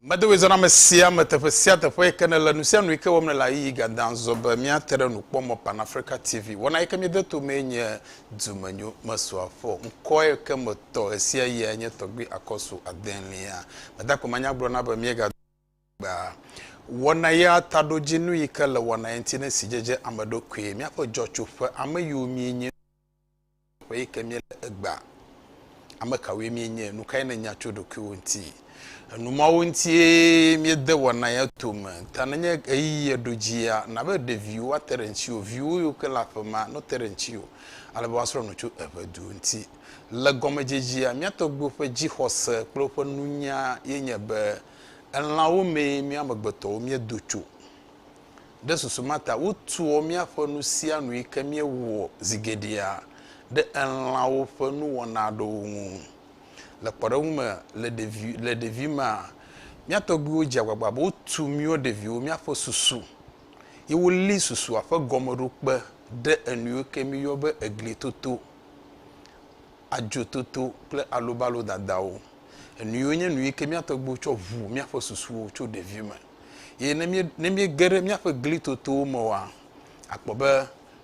Medoe zɔna me sia me teƒe sia teƒe yi ke nele nu sia nu yi ke wɔm nele ayiyi gadan zɔ be míate ɖe nukpɔmɔ Pan Africa TV. Wɔna yi ke míede to mee nye Dumenyo Mesu Afɔ. Ŋkɔ yi ke metɔ ɣesiaɣiae nye Tɔgbui Akɔsu Adelia. Meda akpe manya gblɔ na be míegado gbea wɔna ya taɖodzinu yi ke le wɔna ya ŋuti ne sidzedze ame ɖokui, míaƒe dzɔtsoƒe, ame yiwo míenye, Ƒe yi ke míele egbea, ame kawoe míenye? Nu kae nènya tso ɖokuiwò ŋuti? Enu mawo ŋutie míede wɔna ya tome. Ta nenye ɣeyiɣie ɖo dzia, na be ɖeviwo ate ɖe ŋutiwò, viwò yiwo ke le aƒemea, no te ɖe ŋutiwò, ale be woasrɔ̃ nu tso eŋedu ŋuti. Le gɔmedzedzea, mía tɔgbuiwo ƒe dzixɔse kple woƒe nunya ye nye be, elãwo mee mía amegbetɔwo míedo tso. Ɖe susu ma ta wotua míaƒe nusianui ke míewɔa zi geɖea ɖe elãwo ƒe nuwɔna aɖewo ŋu. Le kpɔɖeŋu me, le ɖevi, le ɖevimea, mía tɔgbuiwo dze agbagba be wotu míwo ɖeviwo míaƒe susu, ye woli susua ƒe gɔmeɖokpe ɖe enuiwo ke míyɔ be eglitoto, adzototo kple alobalodadawo. Enuiwo nye nuyi ke mía tɔgbuiwo tsɔ ʋu míaƒe susuwo tso ɖevime. Ye ne mí ne míege ɖe míaƒe glitotowo me oa, akpɔ be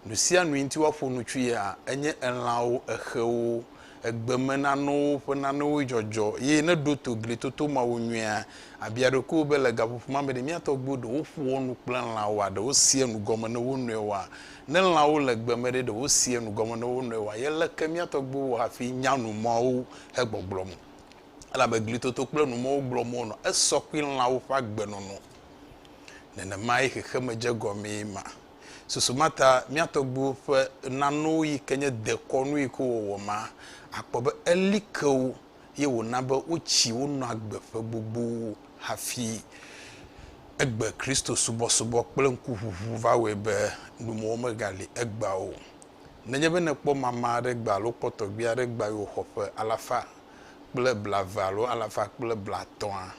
nu sia nu yi ŋuti woaƒo nu tsoea enye elãwo, exewo, egbemenanɔwo ƒe nanewo dzɔdzɔ. Ye ne ɖo to glitoto mawo nyuie la, bia ɖokuiwò be le gaƒoƒo ma me ɖe mía tɔgbuiwo ɖe woƒoa nu kple lãwoa? Ɖe woseaa nu gɔme na wo nɔewoa? Ne lãwo le gbe me ɖe, ɖe woseaa nu gɔme na wo nɔewoa? Ye leke mía tɔgbuiwo wɔ hafi nya nu mawo hegbɔgblɔm? elabe glitoto kple numɔ̃wo gblɔm wonɔ esɔ kpli lãwo ƒe agbenɔnɔ. Nenemae xexeme dze egɔmee ma. Susu ma ta mía tɔgbuiwo ƒe nanowo yi ke nye dekɔnui ko wɔwɔ ma, àkpɔ be eli ke wo ye wòna be wotsi wonɔ agbe ƒe gbogbowo hafi. Egbe Kristo subɔsubɔ kple ŋkuʋuʋu va wɔe be numɔ̃wo megali egbea o. Nenye be nèkpɔ mama aɖe gbea alo kpɔ tɔgbui aɖe gbea yewo xɔ ƒe alafa kple blaeve alo alafa kple blaetɔ̃a,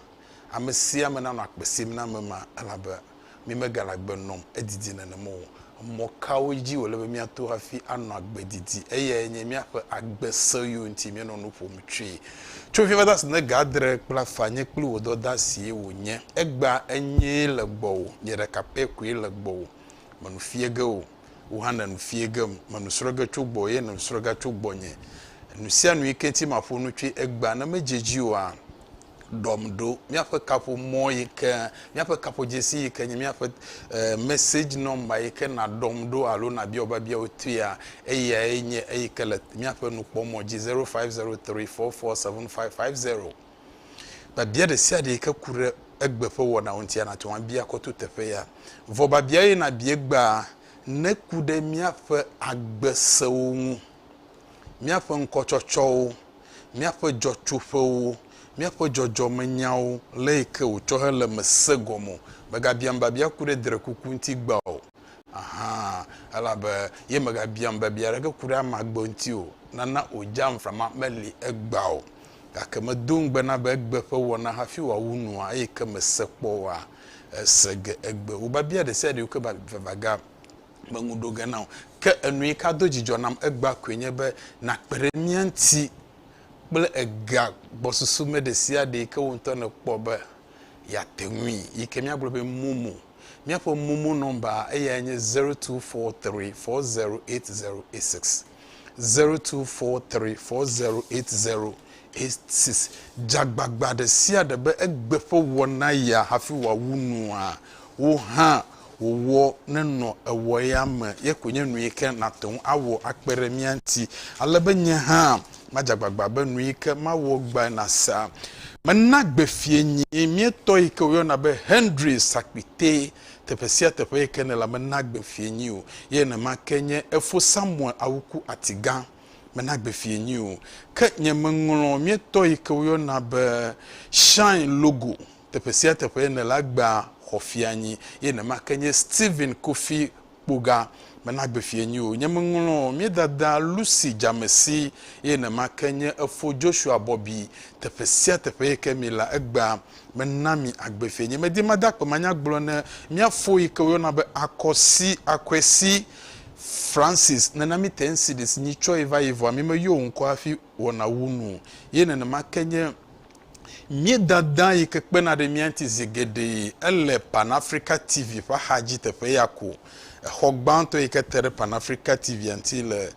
ame sia ame nanɔ akpe sim na ame ma, elabe mi megale agbe nɔm edidi nenem o. Mɔ kawo dzi wòle be míato hafi anɔ agbe didi? Eyae nye míaƒe agbe se yio ŋuti míenɔ nu ƒom tsoe. Tso fifia va se ɖe ga adre kple afã, nye kple wò dɔdasie wònye. Egbea enyee le gbɔwò, nye ɖeka pɛ koe le gbɔwò. Mènu fie ge o. wò hã nènu fiẽ gem. Mènu srɔ̃ ge tso gbɔwò eye nènu srɔ̃ ga tso gbɔnye. Nu sia nu yi ke ŋuti maƒo nu tsoe egbea, ne medze edzi oa, ɖɔm ɖo. Míaƒe kaƒomɔ yi ke, míaƒe kaƒodzesi yi ke nye míaƒe message number yi ke nàɖɔm ɖo alo nàbia wò biabiawo toea, eyae nye eyi ke le míaƒe nukpɔmɔ dzi, zero five zero three four four seven five five zero. Biabia ɖe sia ɖe yi ke ku ɖe egbe ƒe wɔnawo ŋuti nate ŋu abia kɔ to teƒe ya. Vɔ biabia ye nàbia egbea neku ɖe míaƒe agbe sewo ŋu, míaƒe ŋkɔtsɔtsɔwo, míaƒe dzɔtsoƒewo, míaƒe dzɔdzɔmenyawo, le yi ke wòtsɔ hele eme se gɔme o. Megabiam biabia ku ɖe drekuku ŋuti egbea o. Aha, elabe ye megabiam biabia aɖeke ku ɖe ame agbe ŋuti o. Nana wòdze amframa meli egbea o. Gake medo ŋugbe na be egbe ƒe wɔna hafi wòawu nua, eye ke mese kpɔ oa, ese ge egbe. Wò biabia ɖesiaɖe yi ke va vava ga meŋu ɖo ge na wò. Ke enu yi ka do dzidzɔ nam egbea koe nye be nàkpe ɖe mía ŋuti kple ega gbɔsusu me ɖesiaɖe yi ke wò ŋutɔ nèkpɔ be yeate ŋui, yi ke míagblɔ be momo. Míaƒe momo nɔmba eyae nye zero two four three four zero eight zero eight six. 0243408086. Dze agbagba ɖe sia ɖe be egbe ƒe wɔ naya hafi wòawu nua. Wò hã wò wɔ nenɔ ewɔ ya me ye koe nye nuyike nàte ŋu awɔ akpe ɖe mía ŋuti, ale be nye hã madze agbagba be nuyike mawɔ gbae nasa. Mena gbe fiẽnyii míetɔ yike wòyɔna be Henry Sakpitee teƒe sia teƒe yi ke nèla mena gbe fiẽ nyui o. Ye nenema ke nye efo Samuel awuku ati gã, mena gbe fiẽ nyui o. Ke nye meŋlɔ míetɔ yi ke woyɔna be Shine Logo teƒe sia teƒe yi nèla gbea xɔ fiẽ anyi. Ye nenema ke nye Stephen Kofi Kpoga, mena gbe fiẽ nyui o. Nye meŋlɔ míedada Lucy Dzamesi ye nenema ke nye efo Joshua Bobby teƒe sia teƒe yi ke miela egbea. Mena mi agbe fie. Nye medi made akpe manya gblɔ ne mia fo yi ke wo yɔna be Akwesi, Akwesi, Francis nena mi te NCDs nyi tsɔ yi va yi vɔa mi me yɔ wo ŋkɔ hafi wɔna wu nu o. Ye nenema ke nye mi dada yi ke kpena ɖe mia ŋti zi geɖe yi. Ele Pan Africa TV ƒe axa dzi teƒe ya ko. Exɔ gbãtɔ yi ke te ɖe Pan Africa TV-a ŋti le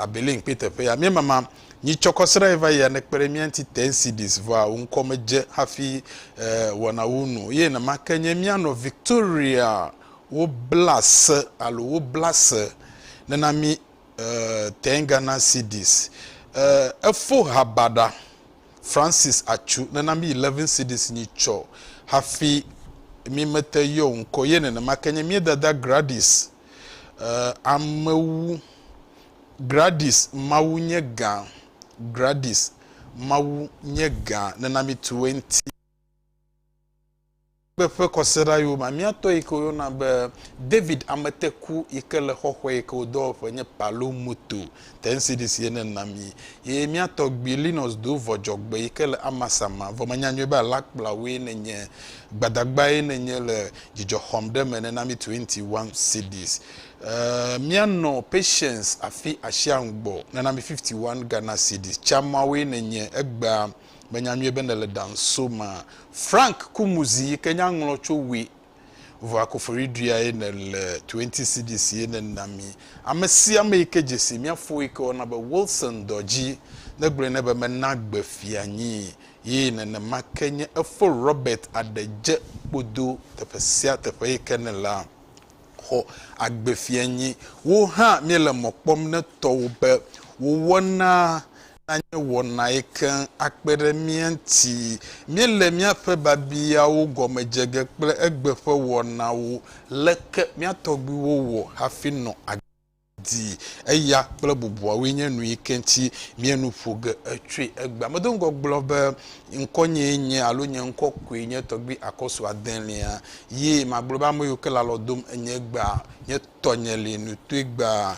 Abelin kpe teƒe ya. Mi mama. Nyitsɔ kɔ srae va yia ne kpeɖe mía ŋuti te Ŋsidis vɔa wò ŋkɔ me dze hafi e wɔnawo nu eye nemake nye mía nɔ Victoria wo bla se alo wo bla se nena mí e tɛn Ghana Ŋsidis e efo ha baɖa Francis Atsu nena mí 11 Ŋsidis nyitsɔ hafi mí mete yɔ wò ŋkɔ eye nenemake nye mía dada Gradis e amewu Gradis Mawu nye gã Gradis Mawu nye gã Nena mitu wo ŋti Kpe ƒe kɔsiɖa yo Mamia tɔ yi ke wo yɔna be David Ameteku yi ke le xɔxɔe yi ke wo dɔwɔƒe nye Palo Moto te ŋsidis ye ne na mi ye mia tɔ gbi Linus Do vɔ dzɔgbe yi ke le Amasama vɔ menya nyuie be alakpla woe ne nye Gbadagba ye ne nye le dzidzɔ xɔm ɖe me nena mitu enti one ŋsidis Eeh mia nɔ patience afi asia ŋgbɔ nana mi 51 Ghana cedis tsa mawoe ne nye egbea me nya nyuie be ne le ɖa ŋso ma Frank kumuzi yike nya ŋlɔ tso we vɔa kofori ɖuiae ne le 20 cedis ye ne na mi ame sia ame yike dzesi mia fo yike wɔna be Wilson dɔdzi ne gblɔe ne be me na gbe fia nyi ye nene ma ke nye efo Robert aɖe dze kpodo teƒe sia teƒe yike ne la. xɔ agbefianyi. Wò hã míele mɔ kpɔm ne tɔwò be wò wɔna nanye wɔnae keŋ akpe ɖe mía ŋuti. Míele míaƒe biabiawo gɔme dze ge kple egbe ƒe wɔnawo, Leke mía tɔgbuiwo wɔ hafi nɔ agbe? dii. Eya kple bubuawoe nye nu yi ke ŋuti mía nu ƒo ge tsoe egbea. Medo ŋgɔ gblɔ be ŋkɔnyee nye alo nye ŋkɔ koe nye tɔgbui akɔsu adelia. Ye magblɔ be ame yiwo ke le alɔ dom enye egbea nye tɔnye li nutue gbaa.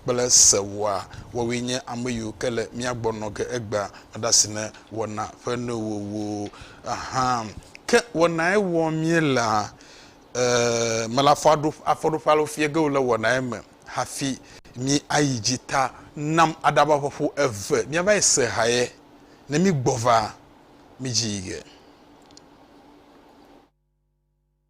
kple sewoa, woawoe nye ame yiwo ke le mía gbɔ nɔ ge egbea aɖe asi ne wɔna ƒe nowòwo hã. Ke wɔnae wɔ míelea? E, mele afɔɖoƒe alo fiẽ ge o le wɔnae me hafi mí ayi dzi ta nam aɖava ƒe ƒo eve mía va yi se haye ne mí gbɔ va mí dzi yi ge.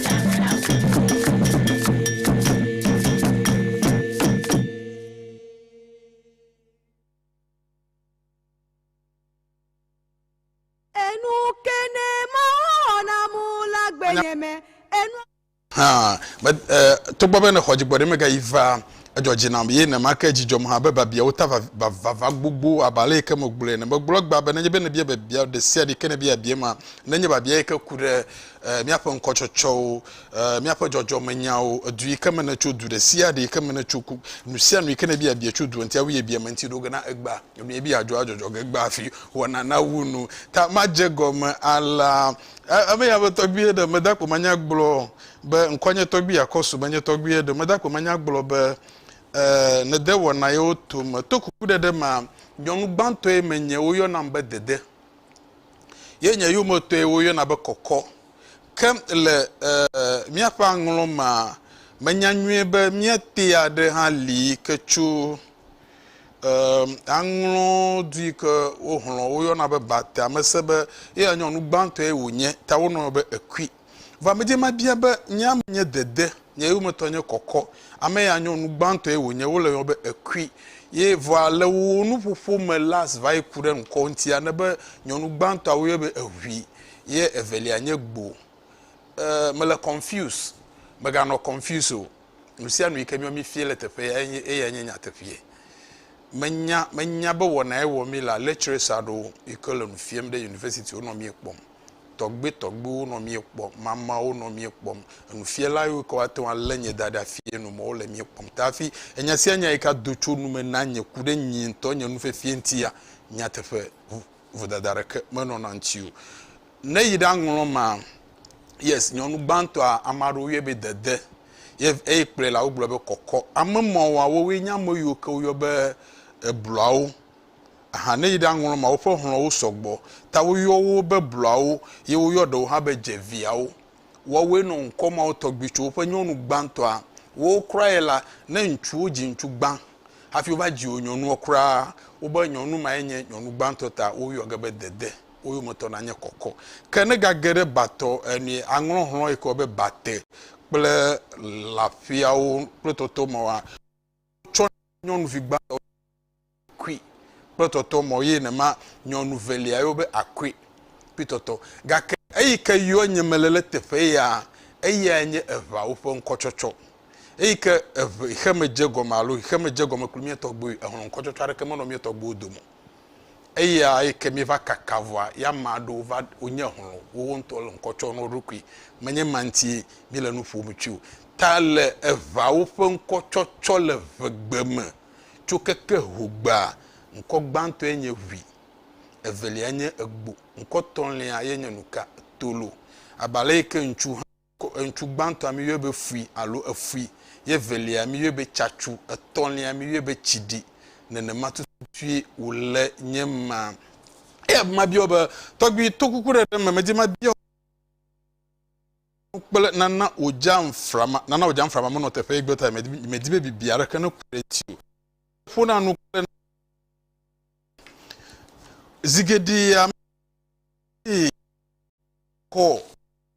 Enu kene mawo wɔna mu la gbenye me enu. Hã, me, e, togbɔ be nexɔ dzigbɔ ɖe mega yi va edzɔ dzi nam ye nema ke dzidzɔm hã be babiawo ta vava gbogbo abe ale yi ke megblɔe ne megblɔ egbea be nenye be nebia babia ɖe sia ɖe yi ke nebia bia ma nenye babia yi ke ku ɖe míaƒe ŋkɔtsɔtsɔwo, míaƒe dzɔdzɔmenyawo, edu yi ke me nètso, du ɖe sia ɖe yi ke me nètso, ku nu sia nu yi ke nèbi abia tso du ŋuti, awu yebia me ŋuti ɖo ge na egbea. Nu yi ebia adzɔ adzɔdzɔ ge egbea hafi wɔna nawu nu. Ta madze egɔme alea. Ame ya be tɔgbuiye ɖe meda kpo manya gblɔ be ŋkɔa nye tɔgbui Akɔsu menye tɔgbuiye ɖe meda kpo manya gblɔ be nède wɔna yewo tome. To kukuɖeɖe mea, nyɔnu gbãtɔe menye, woyɔnam be Dede. ye nye yometɔe woyɔna be kɔkɔ. Ke le míaƒe aŋlɔ mea, menya nyuie be míate aɖe hã li yi ke tso aŋlɔ du yi ke wohlɔ̃ woyɔna be Bate. Ame se be eya nyɔ nu gbãtɔe wònye ta wonɔe be ekui. Vɔ amedzɛ ma bia be, Nye ame nye dede, nye yometɔ nye kɔkɔ, ame ya nyɔ nu gbãtɔ ye wònye, wole yɔ be ekui. Ye vɔa le wò nuƒoƒo me las va yi ku ɖe ŋkɔ ŋutia, ne be nyɔnu gbãtɔa woyɔɛ be ehui, ye evelia nye gbo. E, mele confuse. Meganɔ confuse o. Nusianu yike miɔ mi fie le teƒe ya enye, eyae nye nyateƒee. Menya, menya be wɔna ye wɔ mi la, lecturers aɖewo yike le nu fiem ɖe university wo nɔ mie kpɔm. tɔgbitɔgbiwo nɔ mía kpɔm, mamawo nɔ mía kpɔm, enufiala yiwo ke woate ŋu alé nye da ɖe afii nu mɔ wole mía kpɔm ta hafi enya sia nya yi ke ado tso nu me na nye ku ɖe nye ŋutɔ nye nufiafia ŋutia, nyateƒe, vodada aɖeke menɔna eŋuti o. Ne eyi ɖa ŋlɔ ma, yes, nyɔnu gbãtɔa, ame aɖewo yɔe be dede ye eyi kplɔe la wogblɔ be kɔkɔ. Ame mawoa wowoe nye ame yiwo ke woyɔ be ebluawo. Aha ne yi ɖe aŋlɔ ma woƒe xlɔwo sɔgbɔ ta woyɔ wo be blɔawo ye woyɔ ɖewo hã be dzeviawo. Woawoe nɔ ŋkɔ mawo tɔgbi tso woƒe nyɔnu gbãtɔa wowo kura ye la ne ŋutsuwo dzi ŋutsu gbã hafi wova dzi wo nyɔnua kura wobe nyɔnu mae nye nyɔnu gbãtɔ ta woyɔ ge be dede wo yometɔ nanye kɔkɔ ke ne gage ɖe batɔ enue aŋlɔ xlɔ yi ke wɔbe bate kple lafiawo kple tɔtɔ mawoa tsɔ nyɔnuvi gbãtɔ kui kple tɔtɔ mɔ ye nema nyɔnu velia yo be akui kple tɔtɔ. Gake eyi ke yɔ nye mele le teƒe ya, eyae nye eʋawo ƒe ŋkɔtsɔtsɔ. Eyi ke eʋe xe me dze gɔme alo xe me dze gɔme kpli mía tɔgbuiwo, ehlɔ̃ ŋkɔtsɔtsɔ aɖeke menɔ mía tɔgbuiwo dome o. Eya eke mi va kaka vɔa ya ma ɖo va wonye hlɔ wowo ŋutɔ le ŋkɔ tsɔ no ɖokui. Menye ma ŋti mi le nu ƒom tsui o. Ta le eʋawo ƒe ŋkɔ tsɔ tsɔ le vegbe me tso keke hogbea, ŋkɔ gbãtɔe nye ʋui, evelia nye egbo, ŋkɔ tɔ̃lia ye nye nuka? Tolo. Abe ale eke ŋtsu hã. Ŋutsu gbãtɔa, míyɔe be fui alo efui, ye evelia, míyɔe be tsatsu, etɔ̃lia, míyɔe be tsiɖi. Nenema tututue wòle nye ma. Eya ta mabia wò be, Tɔgbui, to kukuɖeɖe me, medi mabia wò nu kple nana wò dzaŋflama, nana wò dzaŋflama menɔ teƒee gbe ta, medi be bibi aɖeke neku ɖe ŋuti o. Ƒona nu kple nana zi geɖe, ame si kɔ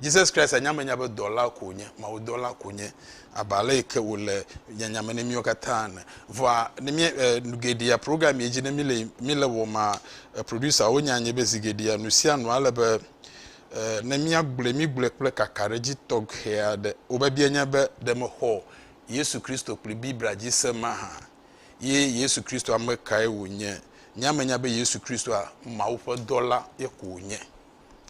Jesus Christ anya menya be dɔla ko wònye, Mawudɔla ko wònye, abe ale yi ke wòle nyanya me ne míwo katã ene. Vɔa, ne mí, e, nu geɖea program ye dzi ne míle, míle wɔm maa, e, producerwo nya nɛ be zi geɖea nu sia nu ale be, e, ne míagblɔe, mígblɔe kple kakaɖedzi tɔxɛ aɖe. Wò biabia nye be, Ɖe mexɔ Yesu Kristo kple Biblia dzi se mahã? Ye Yesu Kristo ame kae wònye? Nya menya be Yesu Kristoa, Mawu ƒe dɔla ye ko wònye.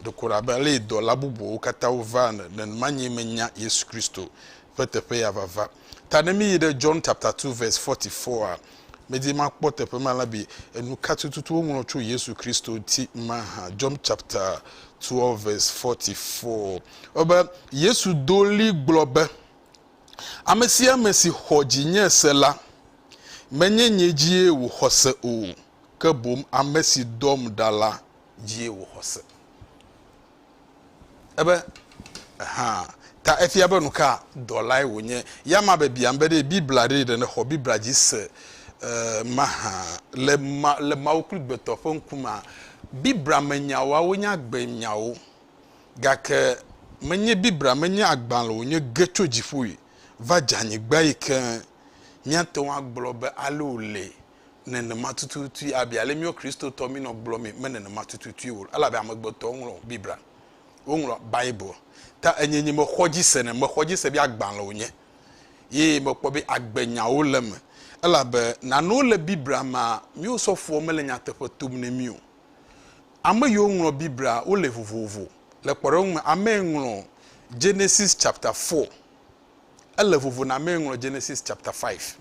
Ɖeko wòle abe ale si dɔla bubuwo katã wovaa ene, nenema nyee menya Yesu Kristo ƒe teƒe ya vava. Ta ne míyi ɖe John chapter 2 verse 44 a, medi makpɔ teƒe ma la be enu ka tututu woŋlɔ tso Yesu Kristo ŋuti mahã. John chapter 2 verse 44. Ewɔ be Yesu do ɣli gblɔ be, Ame sia ame si xɔ dzinye se la, menye nye dzie wòxɔ se o, ke boŋ ame si dɔm ɖa la dzie wò xɔse. Ebe, Ehã. Ta efia be nuka dɔlae wònye. Ya ma be biam be ɖe Biblia ɖee ɖe nèxɔ Biblia dzi se mahã. Le ma, le Mawu kple gbetɔ ƒe ŋkumea, Biblia me nyawoa wonye agbe nyawo. Gake menye Biblia menye agbalẽ wònye ge tso dziƒoe va dze anyigbae ke míate ŋu agblɔ be ale wòle nenema tututui abi ale míwo Kristotɔ mínɔ gblɔ mee me nenema tututui o elabe amegbetɔwo ŋlɔ Biblia, woŋlɔ Bible ta enye nye mexɔ dzi se ne mexɔ dzi se be agbalẽ wonye ye mekpɔ be agbenyawo le eme elabe nanewo le Biblia mea míwo sɔfoɔ mele nyateƒe tom ne mí o. Ame yiwo ŋlɔ Biblia wole vovovo. Le kpɔɖeŋu me amee ŋlɔ Genesis chapter four ele vovo na amee ŋlɔ Genesis chapter five.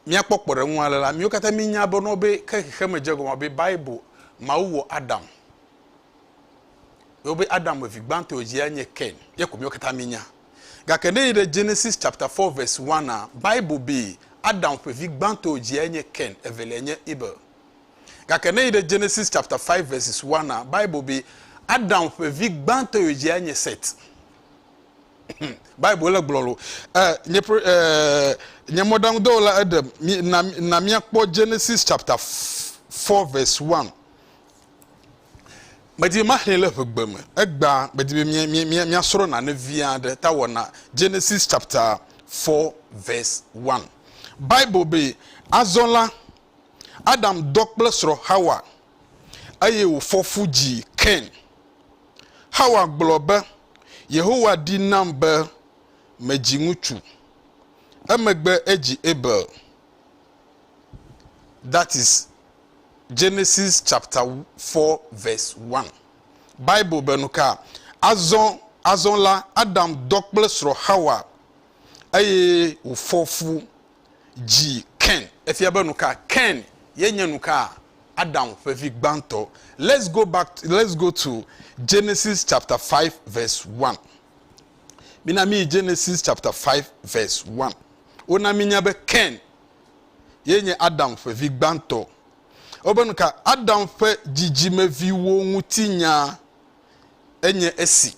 Míakpɔ kpɔɖeŋu ale la, míwo katã mínya be ne wobe ke xexeme dze egɔme be Bible, Mawu wɔ Adam. Ye wobe Adam me vi gbãtɔ yi dzi anye Kain. Ye ko míwo katã mínya. Gake ne yi ɖe Genesis chapter 4 verse 1 a, Bible bee, Adam ƒe vi gbãtɔ yi dzi anye Kain, eveliae nye Abel. Gake ne yi ɖe Genesis chapter 5 verses 1 a, Bible bee, Adam ƒe vi gbãtɔ yi dzi anye Seth. Bible le gblɔ lo. Eh, nye, eh, nye mɔɖaŋudɔwɔla eɖe, na, na míakpɔ Genesis chapter 4 verse 1. Medi be maxlẽ le ʋegbe me. Egbea, medi be míasrɔ̃ nane vi aɖe ta wɔna. Genesis chapter 4 verse 1. Bible be, azɔ la, Adam dɔ kple srɔ̃ Xawa, eye wòfɔ fu dzi Kain. Xawa gblɔ be, Yehowa ɖi nam be medzi ŋutsu. Emegbe edzi Abel. That is Genesis chapter four verse one. Bible be nuka? Azɔ, azɔ la, Adam dɔ kple srɔ̃ Xawa, eye wòfɔ fu dzi Ken. Efia be nuka Ken ye nye nuka Adam ƒe vi gbãtɔ. Let's go back to let's go to Genesis chapter five verse one. Mina mi yi Genesis chapter five verse one. Wona mi nya be Ken ye nye Adam ƒe vi gbãtɔ. Wobe nuka Adam ƒe dzidzimeviwo ŋuti nya enye esi.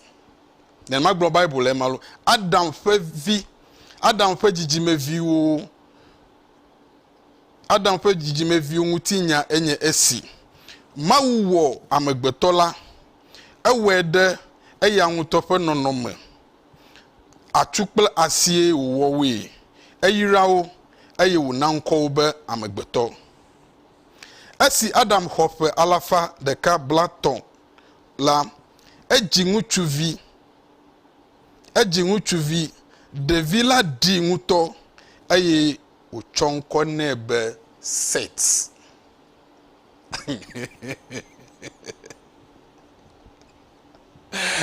Nenema gblɔ Bible le ema lo. Adam ƒe vi, Adam ƒe dzidzimeviwo, Adam ƒe dzidzimeviwo ŋuti nya enye esi. Mawu wɔ amegbetɔ la, ewɔe ɖe eya ŋutɔ ƒe nɔnɔme. Atu kple asie wòwɔ woe. Eyra wo eye wòna ŋkɔ wo be amegbetɔ. Esi Adam xɔ ƒe alafa ɖeka blatɔ̃ la, edzi ŋutsuvi. Edzi ŋutsuvi. Ɖevi la ɖii ŋutɔ eye wòtsɔ ŋkɔ nɛ be Set.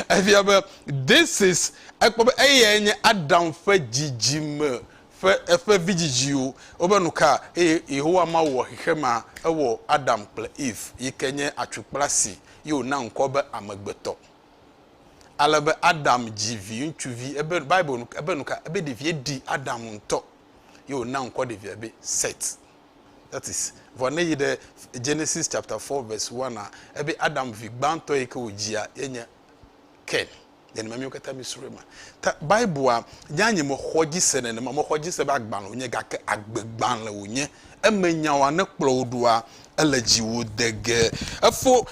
Efia be this is ekpɔ be eyae nye Adam ƒe dzidzime ƒe eƒe vidzidziwo wobe nu ka eye Yehowa Mawu wɔ xexemea ewɔ Adam kple Eve yi ke nye atukpla si ye wòna ŋkɔ be amegbetɔ. Ale be Adam dzi viŋutsuvi ebe Bible nu ebe nu ka ebe ɖevia ɖi Adam ŋutɔ ye wòna ŋkɔ ɖevia be Set. That is vɔ ne yi ɖe Genesis chapter 4 verse 1 a ebe Adam vi gbãtɔ yi ke wòdzia ye nye Ken. nenema míwo katã mísrɔ̃e ma. Ta Biblia nya nye mexɔ dzi se nenema, mexɔ dzi se be agbalẽ wònye gake agbegbalẽ wònye. Eme nyawoa ne kplɔ wò ɖoa, ele dziwò degee. Efo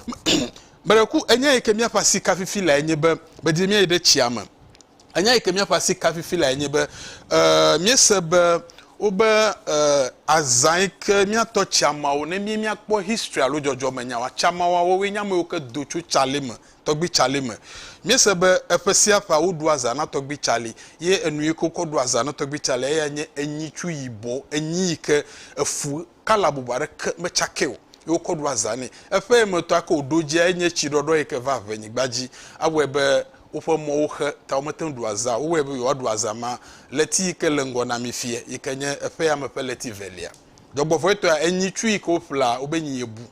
meɖe ku enya yi ke míaƒe asi ka fifi lae nye be medi be míayi ɖe tsia me. Enya yi ke míaƒe asi ka fifi lae nye be e míese be wobe e azã yi ke míatɔ tsiamawo ne mí míakpɔ history alo dzɔdzɔmenyawoa, tsamawoa wowoe nye ame yiwo ke do tso tsa li me Tɔgbui Charlie me. Míese be eƒe sia ƒea woɖua zã na Tɔgbui Charlie, ye enu yi ke wokɔ ɖua zã na Tɔgbui Charlie eyae nye enyitsu yibɔ, enyi yi ke efu kala bubu aɖeke metsakɛ o ye wokɔ ɖua zã nɛ. Eƒe emetɔ ake wòɖo edzia enye tsiɖɔɖɔ yi ke va ʋenyigba dzi. Awɔe be woƒe mɔwo xe ta womete ŋu ɖua zã o. Wowɔe be yewoaɖu azã ma ɣleti yi ke le ŋgɔ na mí fiẽ yi ke nye eƒea me ƒe ɣleti evelia. Dzɔgbevɔ̃etɔea, enyitsu yi ke woƒlea wo be nyi yebu.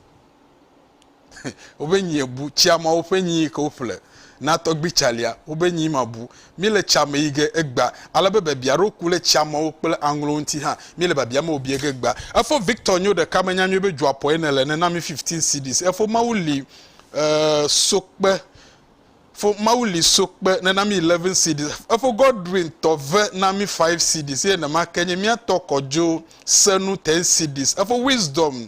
wobe nyi ebu tsia ma woƒe nyi yi ke woƒle na tɔgbi tsalia wobe nyi ma bu mi le tsia me yi ge egba ale be biabia ɖo ku le tsia mawo kple aŋlo ŋuti hã mi le biabia me wobie ge egba efo victor nyo ɖeka me nya nyuie be dzua pɔe ne le ne na mi 15 cds efo mawu li uh, sokpe fo mawu li sokpe ne na mi 11 cds efo godwin tɔve na mi 5 cds ye ne ma ke nye mia tɔ kɔdzo senu 10 cds efo wisdom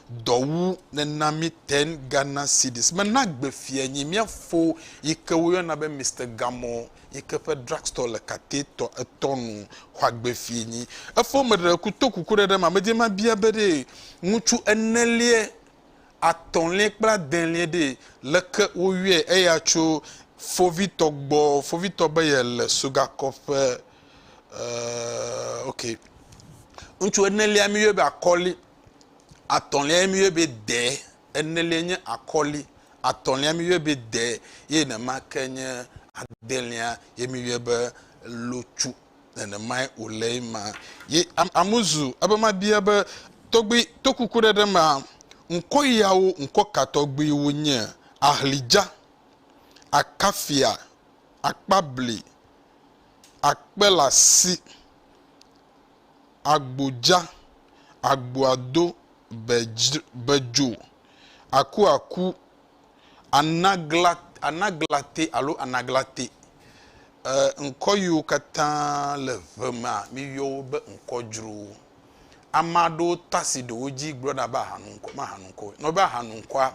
Dɔ wu nena mi ten Ghana cedis me na gbe fia nyi mia fo yi ke wo yɔna be Mister Gamɔ yi ke ƒe drug store le kate tɔ etɔ nu xɔa gbe fie nyi. Efo me ɖe ku to kuku ɖe ɖe ma me dze ma bia be ɖee ŋutsu ene lie atɔ lie kple ade lie ɖee leke wo yɔe eya tso fo vi tɔ gbɔ fo vi tɔ be ye le soga kɔ ƒe eh ok ŋutsu ene lia mi yɔe be akɔli atɔ̃liae mi yɔe be de, eneliae nye akɔli, atɔ̃lia mi yɔe be de eye nenema ke nye adelia ye mi yɔe be lotsu. Nenemae wòle ema. Ye am, amuzu ebe mabia be tɔgbui to kukuɖeɖe mea, ŋkɔ yawo ŋkɔ ka tɔgbui wonye? Ahlidza, akafia, akpabli, akpelasi, Agbo dza, agboa do bedzo, akua ku, anagla, anaglate alo anaglate. Ŋkɔ yiwo katã le ŋe mea, míyɔ wo be ŋkɔdzrowo. Ame aɖewo ta si ɖe wo dzi gblɔna be ahanuŋkɔ, mahanuŋkɔ. Ne wobea ahanuŋkɔa,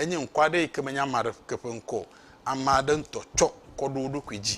enye ŋkɔ aɖe yike menye ame aɖeke ƒe ŋkɔ o. Ame aɖe ŋutɔ tsɔ kɔ ɖo wo ɖokui dzi.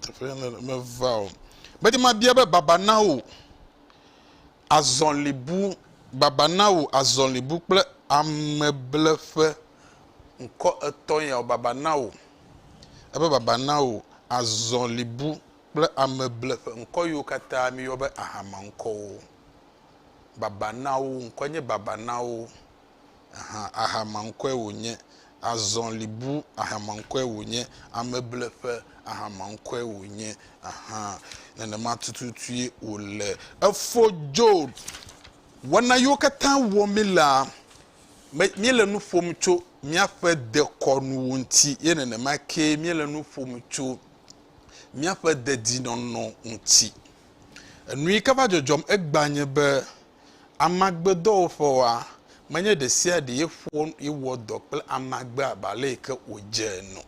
Teƒe aɖe meva o. Medi mabia be baba na wò azɔli bu, baba na wò azɔli bu kple ame ble ƒe ŋkɔ etɔ̃ ya o, baba na wò. Ebe baba na wò azɔli bu kple ame ble ƒe ŋkɔ yiwo katã míyɔ be ahamaŋkɔwo. Baba na wo, ŋkɔ nye baba na wo. ahan ahamaŋkɔe wònye, azɔlibu ahamaŋkɔe wònye, amebleƒe ahamaŋkɔe wònye ahan. Nenema tututue wòle. Efɔ Job. Wɔna yiwo katã wɔ mílea, míele nu ƒom tso míaƒe dekɔnuwo ŋuti ye nenema kee míele nu ƒom tso míaƒe dedinɔnɔ ŋuti. Enu yi ke va dzɔdzɔm egbea nye be Amagbedɔwɔƒewoa, menye ɖesiaɖee ƒo ye wɔ dɔ kple amagbe abe aleyike wòdze ene o.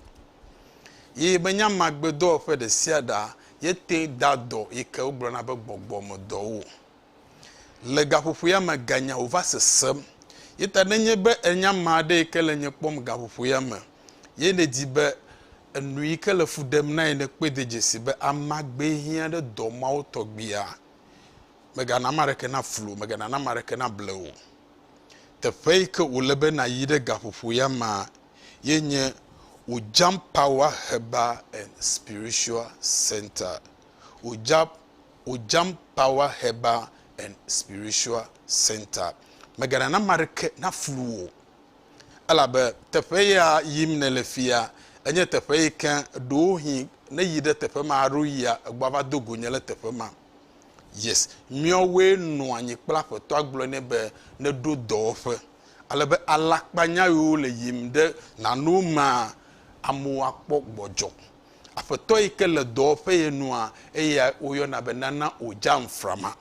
Ye menye amagbedɔwɔƒe ɖesiaɖea ye te ŋu dea dɔ yike wogblɔna be gbɔgbɔmedɔwo o. Le gaƒoƒoea me ganya wòva sesem. Ye ta nenye be ènya ame aɖe yike le nye kpɔm gaƒoƒoea me ye nèdi be enu yike le fu ɖem na ye nekpɔe de dzesi be amagbee hiã ɖe dɔ mawo tɔgbiea, Mègana ame aɖeke naflu wò, mèganana ame aɖeke nable wò. Teƒe yi ke wòle be nàyi ɖe gaƒoƒo ya mea, ye nye Ojam Power Herbal and Spiritual Centre. Oja, Ojam Power Herbal and Spiritual Centre. Mèganana ame aɖeke naflu wò. Elabe teƒe ya yim nèle fia, enye teƒe yi ke ɖewohĩ ne èyi ɖe teƒe ma alo yia, egbɔava do go nye ɖe teƒe ma. Yes, míawoe nɔ anyi kple Aƒetɔa gblɔe nɛ be neɖo dɔwɔƒe. Ale be alakpanyaɣiwo le yim ɖe nanewo mea, amewo akpɔ gbɔdzɔ. Aƒetɔ yi ke le dɔwɔƒe ye nua, eyae woyɔna be nana Ojanframa.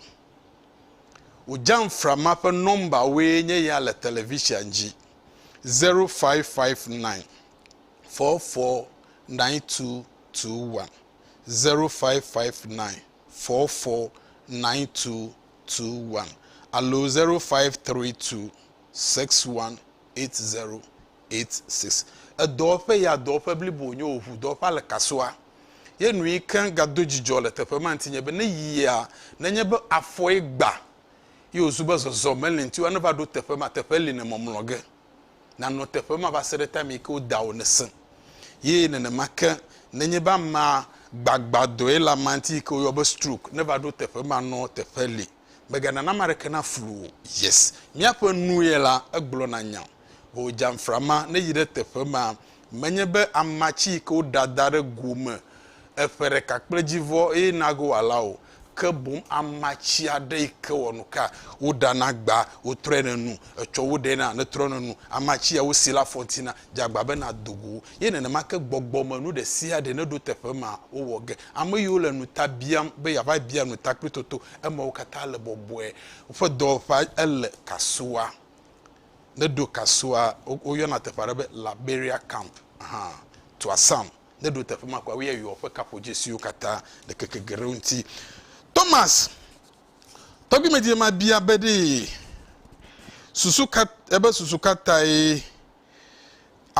Ojanframa ƒe nɔmbawoe nye ya le televisia dzi, 0559 449221. zero five five nine four four nine two two one alo zero five three two six one eight zero eight six. Edɔwɔƒe ya dɔwɔƒe blibo wònye o, ŋu dɔwɔƒea le Kasoa. Ye nu yi ke gado dzidzɔ le teƒe ma ŋuti nye be ne yia, nenye be afɔe gba ye wòzu be zɔzɔ meli ŋuti o la, ne va ɖo teƒe ma, teƒe li nèmɔmlɔ ge. Nànɔ teƒe ma va se ɖe time yi ke wo dawò nèsẽ. Ye nenema ke, nenye be amea gbagba dɔe le amea ŋuti yi ke woyɔ be stroke, neva ɖo teƒe ma nɔ teƒe li. Mègana name aɖeke naflu wò. Yes. Míaƒe nu ye la, egblɔna nya. Vɔ wòdze amframa ne yi ɖe teƒe ma Menye be ama tsi yi ke woɖa da ɖe go me eƒe ɖeka kple dzivɔ eye nage wòala o, ke boŋ ama tsi aɖe yi ke wɔnuka woɖana gbaa, wotrɔe ne nu, etsɔ wo ɖee na netrɔ ne nu. Ama tsi ya wosi la fɔ ŋuti na dze agba be nado go wo. Ye nenema ke gbɔgbɔmenu ɖe sia ɖe neɖo teƒe ma wowɔ ge. Ame yiwo le nu ta biam be yeava bia nu ta kple toto emawo katã le bɔbɔe. Woƒe dɔwɔƒea ele kasua. Ne ɖo kasua, wo yɔna teƒe aɖe be Liberia Camp hã. To asam. Ne ɖo teƒe ma kɔa, wo yɛ yɔ ƒe kaƒo dzesiwo kata le keke geɖewo ŋuti. Thomas, tɔgbi me dzi ma bia be ɖee, susu ka, ebe susu ka tae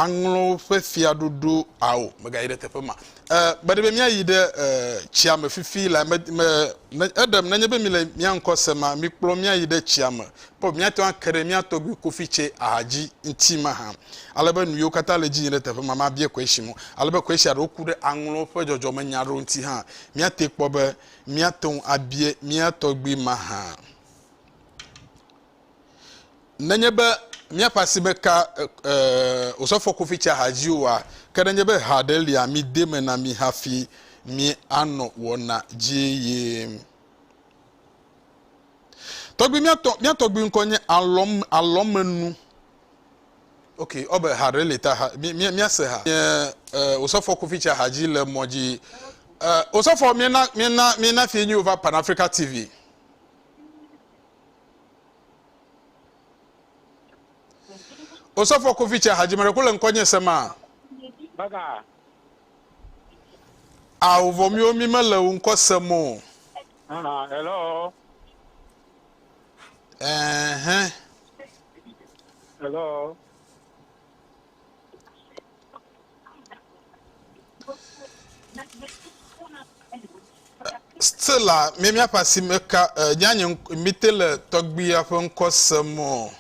aŋlɔ woƒe fiaɖuɖu ao megayi ɖe teƒe ma e mede be míayi ɖe e tsia me fifi la me me ne eɖem nenye be mi le mía ŋkɔ se ma mi kplɔ míayi ɖe tsia me kpɔ míate ŋu ake ɖe mía tɔgbi kofi tse aha dzi ŋti ma hã ale be nu yiwo katã le dzi yi ɖe teƒe ma ma bie koeshi mo ale be koeshi aɖewo ku ɖe aŋlɔ ƒe dzɔdzɔme nya aɖewo ŋti hã míate kpɔ be míate ŋu abie mía tɔgbi ma hã. Nenye be míaƒe asi meka Osɔfo Kofi Tsahaji oa, ke nenye be ha aɖe lia, mide eme na mí hafi míanɔ wɔna dzi yim. Tɔgbui, mía tɔ, mía tɔgbui ŋkɔ nye alɔm, alɔmenu. Ok, ɔ be ha ɖe li ta ha, míase ha. Nye uh, Osɔfo Kofi Tsahaji le mɔ dzi. Uh, Osɔfo, míena, míena, míena fie nyuiwo va Pan Africa TV. Osɔfo Kofitse Hadzimeɖeku le ŋkɔnye se ma. Baka. Ao vɔ miwo mi mele wo ŋkɔ se mo. Ah, hello. Eh, eh. Hello. Stella, mi míaƒe asime ka eh, nye anyi mite le tɔgbuia ƒe ŋkɔ sem o.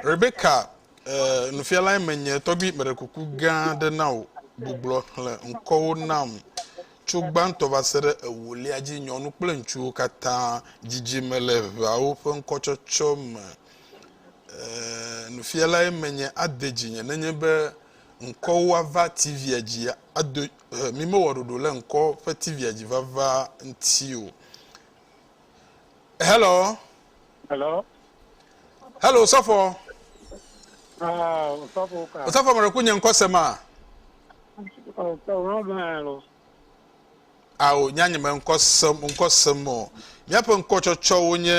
Rebecca, eh, nufialae menye tɔgbi meɖe kuku gã aɖe na wò gbuglɔ xlẽ ŋkɔwo nam tso gbãtɔ va se ɖe ewolia dzi nyɔnu kple ŋutsuwo katã dzidzime le ʋeawo ƒe ŋkɔtsɔtsɔ me. Ɛɛ, nufialae menye ade dzinye nenye be ŋkɔwo ava TV-a dzi ado e, mimewɔ ɖoɖo le ŋkɔ ƒe TV-a dzi vava ŋuti o. Hello. Hello. Hello, Sɔfɔ. Ah, Sɔfɔ ka. Sɔfɔ mɔɖe ku nye ŋkɔ se ma. Oh, so wrong man. Ao, nya nye me ŋkɔ sem, ŋkɔ sem o. Míaƒe ŋkɔtsɔtsɔwo nye,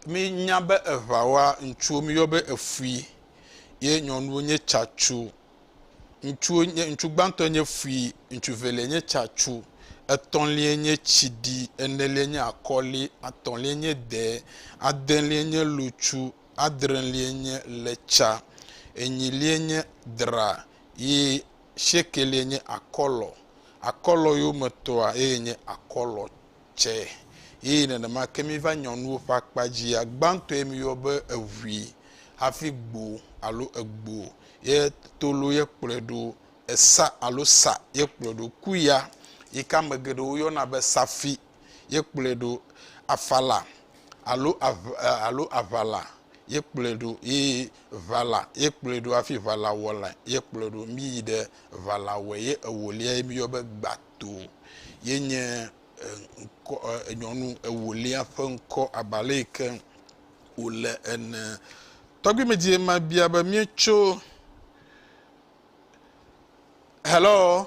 mínya be eŋawa, ŋutsuwo míyɔ be efui, ye nyɔnuwo nye tsatsu. Ŋutsuwo nye, ŋutsu gbãtɔ nye fui, ŋutsu velia nye tsatsu, etɔ̃lia nye tsiɖi, enelia nye akɔli, atɔ̃lia nye de, adelia nye lutsu, adrelia nye letsa, enyilia nye dra, ye Shekelie nye akɔlɔ, akɔlɔ yo me tɔa eye nye akɔlɔ tsɛ. Eye nenema ke mi va nyɔnuwo ƒe akpa dzia, gbãtɔe mi yɔ be eʋui, hafi gbo alo egbo ye tolo ye kplɔe ɖo, esa alo sa ye kplɔe ɖo, ku ya yike ame geɖewo yɔna be safi ye kplɔe ɖo, afala alo alo aʋala ye kplɔe ɖo eye ʋala ye kplɔe ɖo hafi ʋalawɔla ye kplɔe ɖo. Míyi ɖe ʋalawɔe ye ewolia ye míyɔ be gbato ye nye ŋkɔ nyɔnu ewolia ƒe ŋkɔ abe ale yi ke wòle ene. Tɔgbi me die ma bia be míetso hello.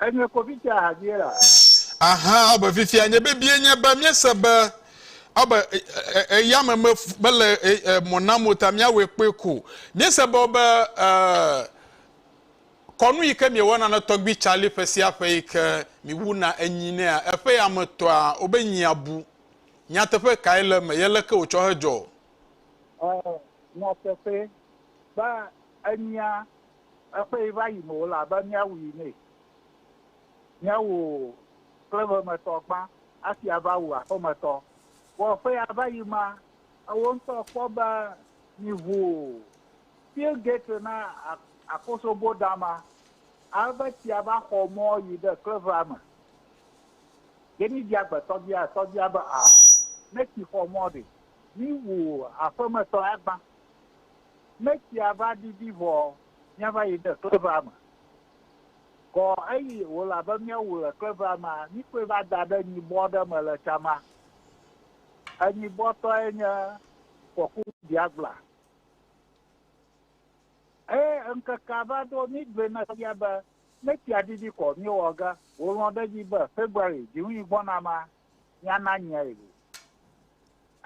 Enye kpovitɔ ahadie la. Ahan, ɔ be fifia nye bebie nye be míese be ɔ be eyame me mele mɔ nam o ta míawɔe kpɔe ko. Míese be ɔ be kɔnu yi ke miewɔna na Tɔgbui Charlie ƒe sia ƒe yi ke miwuna enyi nɛa, eƒe yame tɔa, wo be nyia bu. Nyateƒe kae le eme ye leke wòtsɔ hedzɔ? Ɔ, nyateƒe, be enyia Eƒee va yim wòle abe míawui nɛ. Nye wò klevemetɔ gbã hafi ava wu aƒemetɔ. Vɔ eƒea va yim ma, ewò ŋutɔ kpɔ be mìʋu Fil Gate na akosobo dama, ale be tsia va xɔ mɔ yi ɖe klevea me. Jenny bia gbe tɔgbia, tɔgbia be, Aa, ne tsi xɔ mɔ ɖe, míwu aƒemetɔ ya gbã. Ne tsia va didi vɔ míava yi ɖe klevea me. Kɔ eyi wòle abe míawu le klevea mea, míkɔe va da ɖe nyibɔ ɖe me le tsa ma. Enyibɔ tɔe nye fɔku biagbla. Eye ŋkekea va ɖo mígblɔe na fia be ne tsia didi kɔ míewɔ ge wòlɔ̃ ɖe edzi be February dziŋui gbɔna mea, míana nyae o.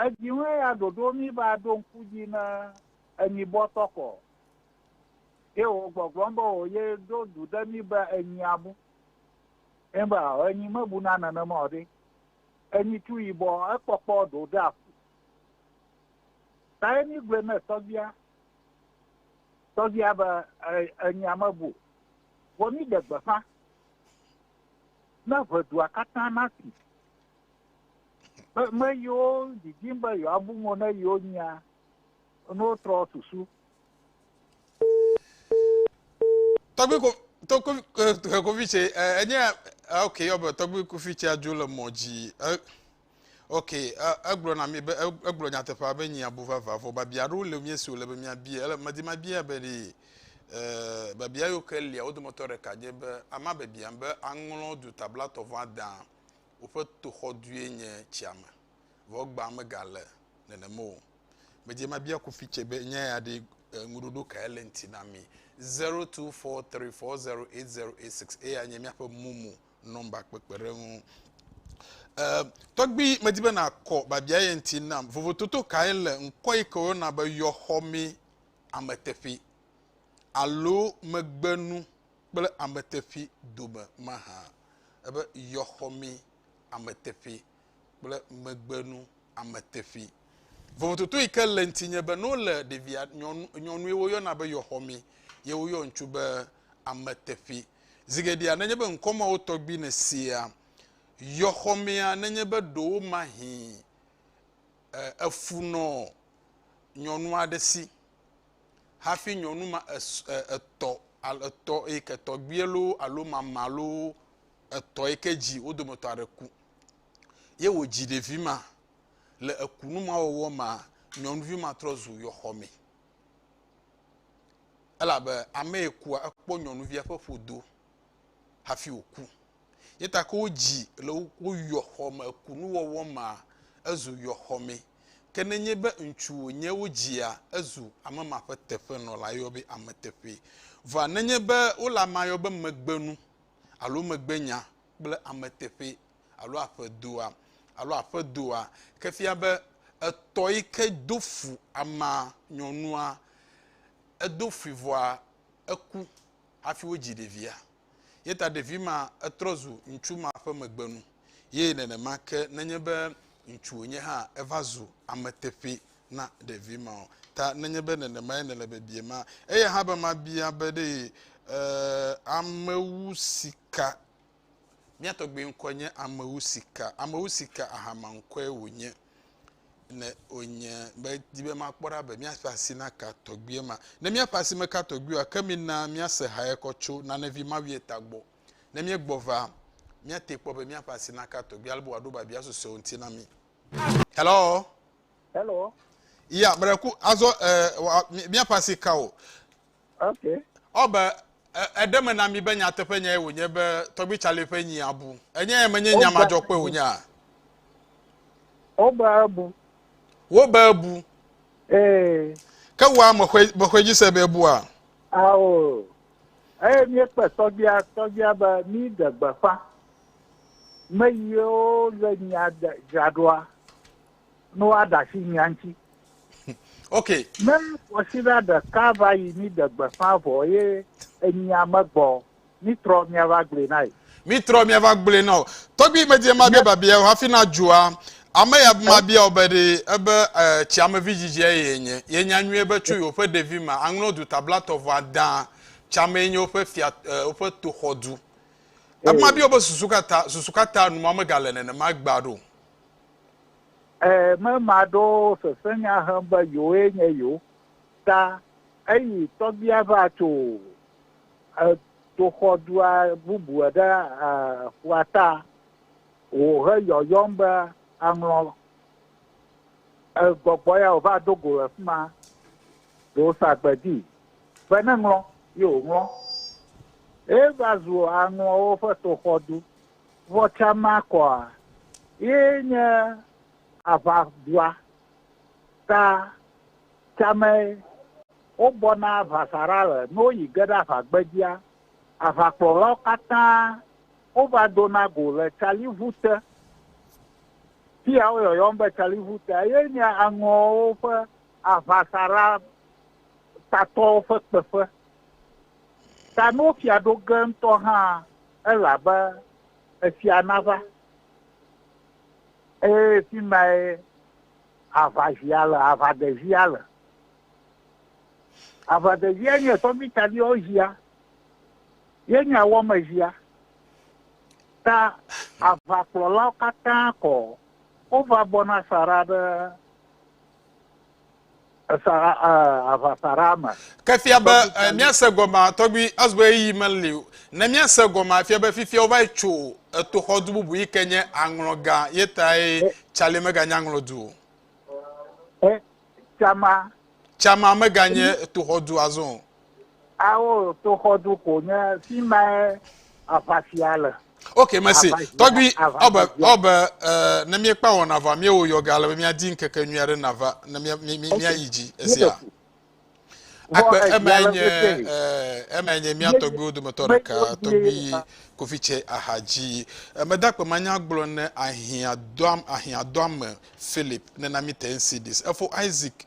Edziŋu eya ɖoɖo mí be aɖo ŋku edzi ne enyi bɔ tɔkɔ ye wò gbɔgblɔm be wò ye ɖo du ɖe mí be enyi abu. Ye be ao enyi mebuna nenema o ɖe, enyi tu yibɔ ekpɔkpɔ ɖo ɖe aƒu. Kaye mí gblɔe ne tɔgbia? Tɔgbia be enyia mebu o. Vɔ mí ɖe gbeƒã Ne ʋe dua katã nasi, ƒe me yiwo didim be yewoabu mo ne yewo nyia, ne wotrɔ susu. Tɔgbi ko to ko eh, ko fi tse eh, enye eh, ok yɔ be tɔgbi ko fi tse adzo le mɔ dzi. Ok, egblɔ na mi be egblɔ nyateƒea be nyi abu vava vɔ babia aɖewo le mie si wòle be miabia ele medi mabia be ɖi e, babia yiwo ke lia wo dometɔ ɖeka nye be ama babia be aŋlɔ du tabla tɔ vɔ adã woƒe toxɔ due nye tsia me vɔ gbã megale nenem o. Medi mabia kofi tse be nya ya ɖi e, ŋuɖoɖo kae le ŋti na mi 0243408086 eya nye miaƒe mumu nɔmba kpekpeɖeŋu. E, tɔgbi medi be nàkɔ biabia ye ŋuti nam. Vovototo kae le ŋkɔ yi ke woyɔna be yɔxɔmee ameteƒee alo megbenu kple ameteƒee dome mahã? Ebe yɔxɔmee ameteƒee. kple megbenu ame teƒee. Vovototo yi ke le ŋutinye be ne wole ɖevia nyɔnu nyɔnue woyɔna be yɔxɔmi ye woyɔ ŋutsu be ame teƒee. Zi geɖea nenye be ŋkɔ mawo tɔgbi nèsea, yɔxɔmea nenye be ɖewomahĩ e efu nɔ nyɔnu aɖe si hafi nyɔnu ma es e etɔ alo etɔ yi ke tɔgbie loo alo mama loo etɔ yi ke dzi wo dometɔ aɖe ku ye wòdzi ɖevi ma. Le ekunu ma wɔwɔ mea, nyɔnuvi ma trɔ zu yɔxɔme. Elabe ame yi kua, ekpɔ nyɔnuvia ƒe ƒodo hafi wòku. Ye ta ke wodzi le wo yɔxɔme, ekunu wɔwɔ mea, ezu yɔxɔme. Ke nenye be ŋutsu wònye wodzia, ezu ame ma ƒe teƒenɔla, yeyɔe be ameteƒee. Vɔa nenye be wole amea yɔm be megbenu alo megbenya kple ame teƒee alo aƒedoa alo aƒedoa ke fia be etɔ yi ke do fu amea nyɔnua edo fui vɔa eku hafi wodzi ɖevia. Ye ta ɖevi ma etrɔ zu ŋutsu ma ƒe megbenu. Ye nenema ke nenye be ŋutsu wònye hã eva zu ame teƒee na ɖevi ma o. Ta nenye be nenemae nèle biebie ma, eya hã be mabia be ɖe ame wu sika. Mía tɔgbui ŋkɔe nye Ame wu sika. Ame wu sika ahama ŋkɔe wònye. Ne wònye medi be makpɔ ɖa be míaƒe asi naka tɔgbuia ma. Ne míaƒe asi meka tɔgbui o ake mina míase ha ye kɔ tso nanevi ma vie ta gbɔ. Ne míegbɔ va, míate kpɔ be míaƒe asi naka tɔgbuia ale be wòaɖo biabia susɔewo ŋuti na mí. Hello! Hello. Ya mreku azɔ eh, míaƒe asi ka o. Ok. Ɔbe eɖe me na mi be nyateƒe nyae wònye be tɔgbi Charlie ƒe nyi abu. Enye ya menye nya madzɔkpɔe wònye a? Wobe ebu. Wobe ebu. Ee. Ke wòa mexɔe dzi se be ebua? Ao. Eye míekpe tɔgbia tɔgbia be mí ɖe gbeƒã. Me yiwo le nya dzraɖoa. ne woaɖe asi mía ŋuti. Ok. Ne kwasiɖa ɖeka va yi mí ɖe gbeƒã vɔ eye enyia megbɔ o, mí trɔ mía va gblɔe na ye. Mí trɔ mía va gblɔe na wo. Tɔgbi me dze ma bia babia o hafi na dzoa. Ame ya ma bia wo be ɖe ebe tsiamevi dzidzi eye enye. Ye nya nyuie be tso yewoƒe ɖevi me aŋlɔ du tablatɔ vɔ ada tsiamee nye woƒe fia woƒe toxɔ du. Ebe ma bia wo be susu ka ta susu ka ta numa megale nenema gbea ɖo. Ẽ, mema aɖewo sesẽnya hem be yewoe nye yewo ta eyi tɔgbia va tso toxɔ dua bubu ɖe ƒua ta o heyɔyɔm be, Aŋlɔ, gbɔgbɔ ya wòva do go le fi ma ɖe wosa agbe di be neŋlɔ, ye wòŋlɔ. Eva zu aŋlɔwo ƒe toxɔdu. Vɔ tsã ma kɔa ye nye aʋa dua ta tsã mɛ wo bɔ na vasaɖa le no yi ge ɖe aʋa gbe dzia. Aʋa kplɔlawo katã wo va do na go le tsali ʋu te. Fiya wo yɔyɔm be tsali ʋu tea ye nye aŋɔwo ƒe aʋasaɖa tatɔwo ƒe kpeƒe. Ta no fia ɖo ge ŋutɔ hã elabe efia nava, eye fi mae aʋazia le, aʋadezia le. Aʋadezia nye tɔmitaɖiɔzia ye nye awɔmezia. Ta aʋakplɔlawo katã kɔ, wova bɔna sa ɖa ɖe. Esa aʋasaɖa me. Ke fia be míase gɔmea, tɔgbi Asbury meli o. Ne míase gɔmea, fia be fifia wova yi tso etoxɔdu bubu yi ke nye aŋlɔgã ye tae Charlie meganye aŋlɔdu o. Ɛ, Chama. Chama meganye etoxɔdu azɔ o. Ao, toxɔdu ko nye fi mae aʋafia le. Ok, mesi. Tɔgbi, ɔbe, ɔbe, ne míekpa wɔna vɔ, míewo yɔ gale be míadi ŋkeke nyui aɖe nava, ne míayi dzi esia. Akpe, eme nye, eme nye mía tɔgbiwo dometɔ ɖeka, tɔgbi kofi tse aha dzi. Meda akpe manya gblɔ ne ahiã doam, ahiã doame Philip, nena mi te NCDs. Efo Isaac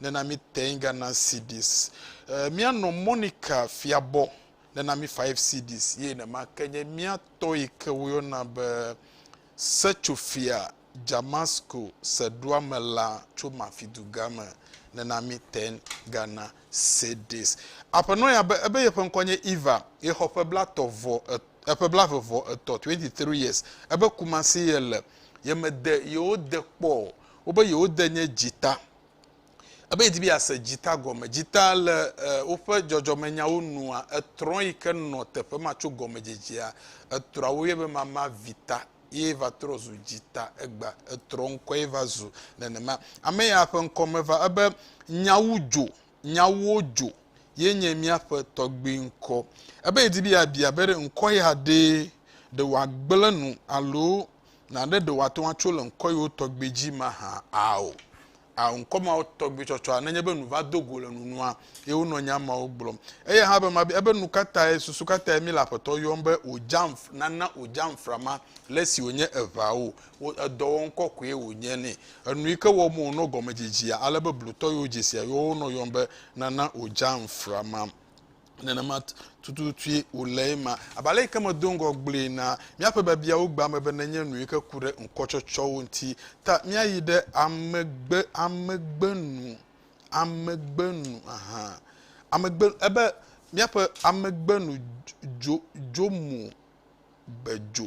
nena mi ten Ghana cedis. E, mianɔ Monica Fiabɔ nena mi five cedis ye nema ke nye mia tɔ yi ke woyɔna be Setsofia Jamasco Seɖoame la tso Mafiduga me nena mi ten Ghana cedis. Aƒenɔ ya be ebe yeƒe ŋkɔ nye Eva ye xɔ ƒe blatɔ vɔ et, eƒe blave vɔ etɔ twenty three years ebe Kumasi ye le ye mede yewo de kpɔ wobe yewode nye dzita. Ebe yedi be yease dzita gɔme. Dzita le woƒe dzɔdzɔmenyawo nua etrɔ̃ yi ke nɔ teƒe ma tso gɔmedzedzea. Etrɔ̃a woyɔe be mama vita ye va trɔ zu dzita egba. Etrɔ̃ ŋkɔe va zu nenema. Ame ya ƒe ŋkɔ meva ebe nyawu dzo, nyawuwo dzo ye nye míaƒe tɔgbui ŋkɔ. Ebe yedi be yeabia be ɖe ŋkɔ ya ɖee ɖe wòagblẽ nu alo Naɖe ɖe wòate ŋu atso le ŋkɔyewo tɔgbi dzi mahã? Ao. Ao, ŋkɔ mawo tɔgbi tsɔtsɔa, nenye be nu va do go le nunua, ye wonɔ nya mawo gblɔm. Eya hã be mabia be nukatae, susu katae mí le Aƒetɔ yɔm be wòdzam, nana wòdzam frama le esi wònye eveawo, wo, edɔ wɔm kɔkɔe wònye nɛ. Enu yi ke wɔm wònɔ gɔmedzedzea, ale be blutɔ yiwo dzesia yɔwɔ wonɔ yɔm be nana wòdzam frama. nenema tututue wòle ema. Abe ale yi ke medo ŋgɔ gblɔe na míaƒe biabiawo gbea me be nenye nu yi ke ku ɖe ŋkɔtsɔtsɔwo ŋuti ta míayi ɖe amegbe, amegbe nu, amegbe nu, ahan, amegbe, ebe míaƒe amegbe nu dzo, dzo mo, be dzo.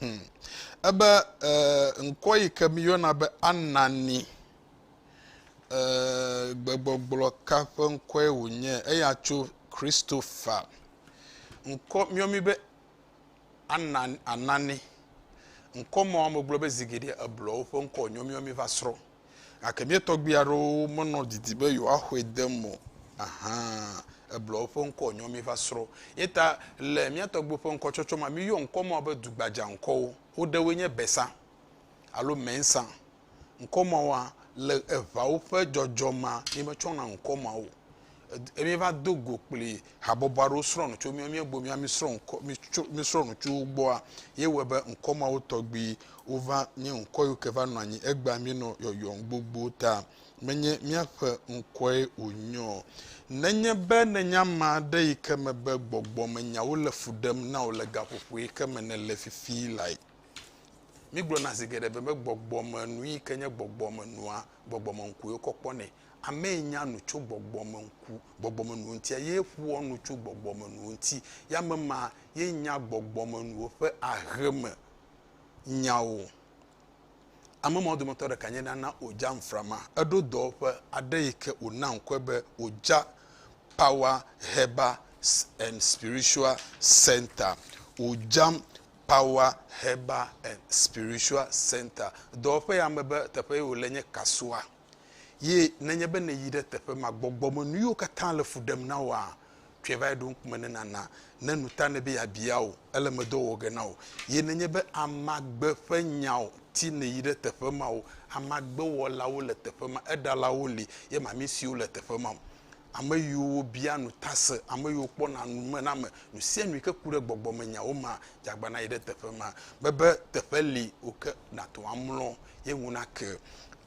Hmm. Ebe eh, ŋkɔ yi ke miyɔna be Anani eh, gbegbɔgblɔ ka ƒe ŋkɔe wònye? Eya tso Christopher. Ŋkɔ miyɔ mi be Anani, Anani. Ŋkɔ ma wome gblɔ be zigiɖe eblɔwo ƒe ŋkɔ wònyɔ miyɔ mi va srɔ̃. gake mía tɔgbui aɖewo menɔ didi be yewoaxɔe de eme o. Ahan, eblɔ eƒe ŋkɔ wònyɔ mí va srɔ̃. Ye ta le mía tɔgbuiwo ƒe ŋkɔtsɔtsɔ mea, míyɔ ŋkɔ mawo be dugbadzaŋkɔwo. Wo ɖewoe nye Besa alo Mensa. Ŋkɔ mawoa, le eŋawo ƒe dzɔdzɔ mea, míemetsɔna ŋkɔ mawo o. e míeva do go kpli habɔbɔ aɖewo srɔ̃ nu tso mía míegbo mía mísrɔ̃ ŋkɔ mítso mísrɔ̃ nu tso wo gbɔa ye wɔe be ŋkɔ mawo tɔgbi wova nye ŋkɔ yiwo ke va nɔ anyi egbea míenɔ yɔyɔm gbogbo ta menye míaƒe ŋkɔe wònye o nenye be nenye ame aɖe yi ke me be gbɔgbɔmenyawo le fu ɖem na wò le gaƒoƒo yi ke me nèle fifi lae mígblɔna zi geɖe be gbɔgbɔmenu yi ke nye gbɔgbɔmenua gbɔgbɔmeŋkue wokɔ kpɔnɛ Amee nya nu tso gbɔgbɔme ŋku, gbɔgbɔmenuwo ŋuti, eye ƒoa nu tso gbɔgbɔmenuwo ŋuti. Ye ame ma ye nya gbɔgbɔmenuwo ƒe aheme nyawo. Ame mawo dometɔ ɖeka nye nana Oja Nframa. Eɖo dɔwɔƒe aɖe yi ke wòna ŋkɔe be Oja Power Herbal and Spiritual Centre, Ojam Power Herbal and Spiritual Centre. Dɔwɔƒe ya mebe teƒe ye wòle nye Kasoa. Ye nenye be nèyi ɖe teƒe ma, gbɔgbɔmenuyiwo katã le fu ɖem na wòa, tsɔe va eɖoŋkume ne nàna. Ne nu ta nɛ be yeabia wò, ele me dɔ wɔ ge na wò. Ye nenye be amagbe ƒe nyawo ti nèyi ɖe teƒe ma o, amagbewɔlawo le teƒe ma, eɖalawo li, ye mamisiwo le teƒe ma o. Ame yiwo bia nu ta se, ame yiwo kpɔna nu me na ame, nu sia nu yike ku ɖe gbɔgbɔmenyawo ma, dze agbana yi ɖe teƒe ma. Mebe teƒe li wò ke nàto amlɔ, ye ŋu nake.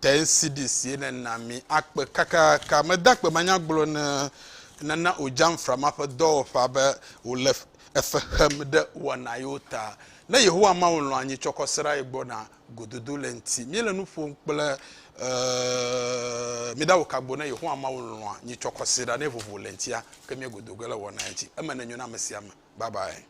te ŋsidi sie nena mi akpe kakaka. Meda akpe manyagblɔ ne nena o Jamfra ma ƒe dɔwɔƒea be wòle efe xem ɖe wɔna yewo ta. Ne Yehowa Mawu lɔ̃ anyi tsɔ kɔsera ye gbɔ na gododo le ŋti. Míele nu ƒom kple mi ɖa wokagbo ne Yehowa Mawu lɔ̃a nyi tsɔ kɔsera ne vovo le ŋtia ke mie godo ge le wɔna ye ŋti. Eme nenyo na ame sia ame. Bye bye.